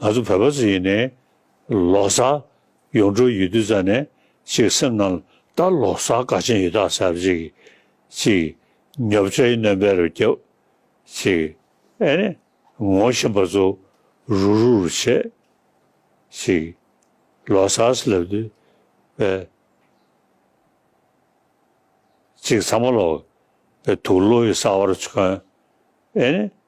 ང་ཚོ་བོད་པ་ཚོ་ཡིན་ནའི། ལོག་ས། ཡོང་འགྲོ་ཡོད་དུས་ཙ་ནས་ཅིག་སེམས་ནང་ལ་ད་ལོག་ས་ག་ཅན་ཡོད་ད་ཟེར་ཅིག། ཅིག། ཉོབ་ཆ་ཡི་རྣོན་པའི་རུ་རྒྱབ། ཅིག། ཨེ་ནས། ངོ་བཞིན་པ་ཚོ། རུ་རུ་རུ་བྱེད། ཅིག། ལོག་ས་སུ་སླེབས་དུས། པའི། ཅིག་ཚང་མ་ལོག། པའི་དུག་ལོ་ཡི་ས་བར་ཆོན། ཨེ་ནས།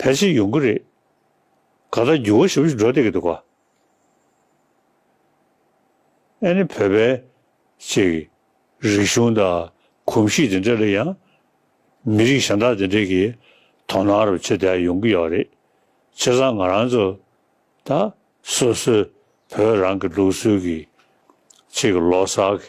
ཕལ་ཆེར་ཡོང་གི་རེད། ག་ལྟར་འགྱུར་བ་ཞིབ་ཞིབ་འགྲོ་བསྡད་ཀྱི་འདུག་ག་ཨེ་ནི་བོད་པའི་ཅིག་རིག་གཞུང་དང་གོམས་གཤིས་དེ་འདྲ་ལ་ཡང་མི་རིགས་གཞན་དག་དེ་འདྲའི་གི་དོ་ནང་རུ་ཆེ་དག་ཡོང་གི་ཡོད་རེད་ཆེ་སང་ང་རང་ཚོ་དང་སོ་སོའི་བོད་རང་གི་ལུགས་སྲོལ་གྱི་ཅིག་ལོ་སར་གི་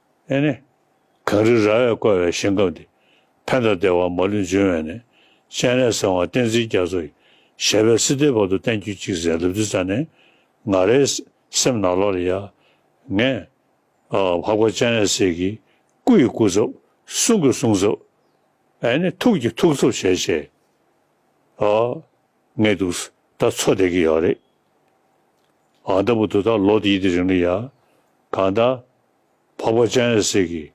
ཨེ་ནི། གངས་རི་རྭ་བས་བསྐོར་བའི་ཞིང་ཁམས་འདི། ཕན་དང་བདེ་བ་མ་ལུས་འབྱུང་བས་ནི། སྤྱན་རས་གསང་བ་བསྟན་འཛིན་རྒྱ་མཚོ་ཡི། ཞལ་བས་སྲིད་མཐའི་བར་དུ་བསྟན་གྱུར་ཅིག་ཟེར་ལབ་དུས་རྩ་ནས། ང་རའི་སེམས་ནག་ལོག་ལ་ཡ། ངས། འཕགས་པ་སྤྱན་རས་གཟིགས་ཀྱི། སྐུ་ཡི་སྐུ་ཚབ། གསུང་གི་གསུང་ཚབ། ཨེ་ནི། ཐུགས་ཀྱི་ཐུགས་ཚབ་བྱས་བྱས། ངས་འདུག། ད་འཚོ་བསྡད་ཀྱི་ཡོད་རེད། ཨ་མདའ་བུ་དོ་ད་ལོ་དེ་ཡི་དེ་རིང་ལ་ཡ། གང་ད། འཕགས་པ་སྤྱན་ཡོད་ཟིག་གི།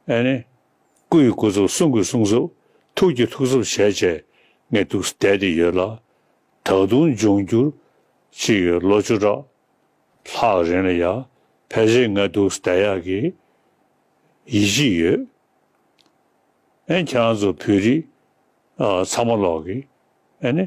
ཨེ་ནི། སྐུ་ཡི་སྐུ་གཟུགས་གསུང་གི་གསུང་གཟུགས། ཐུགས་ཀྱི་ཐུགས་གཟུགས་བྱས་བྱས། ངས་འདུག་བསྡད་དེ་ཡོད་ལ། ད་དུང་འབྱུང་འགྱུར། ཅི་ཡོད་ལོ་བཅུ་ཕྲག། ལྷག་རིང་ལ་ཡ། ཕལ་ཆེར་ངས་འདུག་བསྡད་ཡག་གི། ཡིད་ཆེས་ཡོད། ཨེ་ཁྱེད་རང་ཚོ་བོད་རིགས། ཚང་མ་ལོག་གི། ཨེ་ནི།